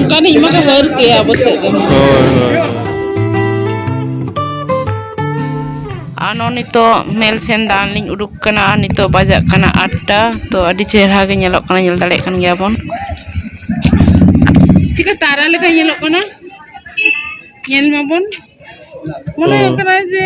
ᱠᱟᱱ ᱤᱧ ᱢᱟᱠᱚ ᱵᱟᱹᱨ ᱠᱮᱭᱟ ᱟᱵᱚ ᱥᱮᱫ ᱫᱚ ᱦᱳᱭ ᱦᱳᱭ ᱟᱨ ᱱᱚᱜᱼᱚᱭ ᱱᱤᱛᱚᱜ ᱢᱮᱞ ᱥᱮᱱ ᱫᱟᱬᱟᱱ ᱞᱤᱧ ᱩᱰᱩᱠ ᱠᱟᱱᱟ ᱟᱨ ᱱᱤᱛᱚᱜ ᱵᱟᱡᱟᱜ ᱠᱟᱱᱟ ᱟᱴᱴᱟ ᱛᱚ ᱟᱹᱰᱤ ᱪᱮᱦᱨᱟ ᱜᱮ ᱧᱮᱞᱚᱜ ᱠᱟᱱᱟ ᱧᱮᱞ ᱫᱟᱲᱮᱭᱟᱜ ᱠᱟᱱ ᱜᱮᱭᱟ ᱵᱚᱱ ᱪᱤᱠᱟᱹ ᱛᱟᱨᱟ ᱞᱮᱠᱟ ᱧᱮᱞᱚᱜ ᱠᱟᱱᱟ ᱧᱮᱞ ᱢᱟᱵᱚᱱ ᱢᱚᱱᱮ ᱦᱩᱭᱩᱜ ᱠᱟᱱᱟ ᱡᱮ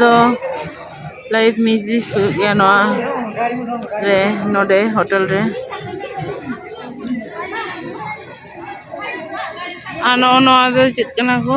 ᱫᱚ ᱞᱟᱭᱤᱵᱷ ᱢᱤᱭᱩᱡᱤᱠ ᱦᱩᱭᱩᱜ ᱜᱮᱭᱟ ᱱᱚᱣᱟ ᱨᱮ ᱱᱚᱰᱮ ᱦᱳᱴᱮᱞ ᱨᱮ ᱟᱨ ᱱᱚᱜᱼᱚ ᱱᱚᱣᱟ ᱫᱚ ᱪᱮᱫ ᱠᱟᱱᱟ ᱠᱚ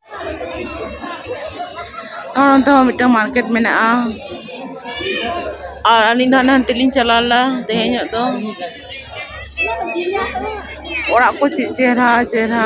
ᱟᱨ ᱚᱱᱛᱮ ᱦᱚᱸ ᱢᱤᱫᱴᱟᱝ ᱢᱟᱨᱠᱮᱴ ᱢᱮᱱᱟᱜᱼᱟ ᱟᱨ ᱟᱹᱞᱤᱧ ᱫᱚ ᱦᱟᱱᱮ ᱦᱟᱱᱛᱮ ᱞᱤᱧ ᱪᱟᱞᱟᱣ ᱞᱮᱱᱟ ᱛᱮᱦᱮᱧ ᱧᱚᱜ ᱫᱚ ᱚᱲᱟᱜ ᱠᱚ ᱪᱮᱫ ᱪᱮᱦᱨᱟ ᱪᱮᱦᱨᱟ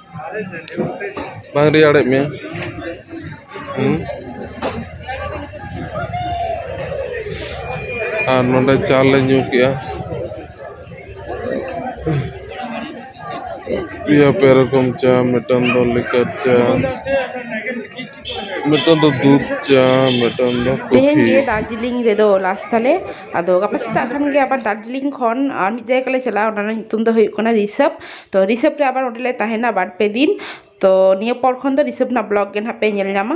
ᱵᱟᱝ ᱨᱮᱭᱟᱲᱮᱫ ᱢᱮᱭᱟ ᱦᱮᱸ ᱟᱨ ᱱᱚᱰᱮ ᱪᱟ ᱞᱮ ᱧᱩ ᱠᱮᱫᱼᱟ ᱯᱮᱭᱟ ᱯᱮ ᱨᱚᱠᱚᱢ ᱪᱟ ᱢᱤᱫᱴᱟᱝ ᱫᱚ ᱞᱤᱠᱟᱨ ᱪᱟ ᱢᱤᱫᱴᱟᱝ ᱫᱚ ᱫᱩᱫᱽ ᱪᱟ ᱢᱤᱫᱴᱟᱝ ᱫᱚ ᱛᱮᱦᱮᱧ ᱠᱚᱯᱷᱤ ᱜᱮ ᱫᱟᱨᱡᱤᱞᱤᱝ ᱨᱮᱫᱚ ᱞᱟᱥ ᱛᱟᱞᱮ ᱟᱫᱚ ᱜᱟᱯᱟ ᱥᱮᱛᱟᱜ ᱠᱷᱟᱱ ᱜᱮ ᱟᱵᱟᱨ ᱫᱟᱨᱡᱤᱞᱤᱝ ᱠᱷᱚᱱ ᱟᱨ ᱢᱤᱫ ᱡᱟᱭᱜᱟ ᱞᱮ ᱪᱟᱞᱟᱜᱼᱟ ᱚᱱᱟ ᱨᱮᱱᱟᱜ ᱧᱩᱛᱩᱢ ᱫᱚ ᱦᱩᱭᱩᱜ ᱠᱟᱱᱟ ᱨᱤᱥᱟᱵᱽ ᱛᱚ ᱨᱤᱥᱟᱹᱵ ᱨᱮ ᱟᱵᱟᱨ ᱚᱸᱰᱮᱞᱮ ᱛᱟᱦᱮᱱᱟ ᱵᱟᱨ ᱯᱮ ᱫᱤᱱ ᱛᱚ ᱱᱤᱭᱟᱹ ᱯᱚᱨ ᱠᱷᱚᱱ ᱫᱚ ᱨᱤᱥᱟᱹᱵ ᱨᱮᱱᱟᱜ ᱵᱞᱚᱜ ᱜᱮ ᱱᱟᱦᱟᱜ ᱯᱮ ᱧᱮᱞ ᱧᱟᱢᱟ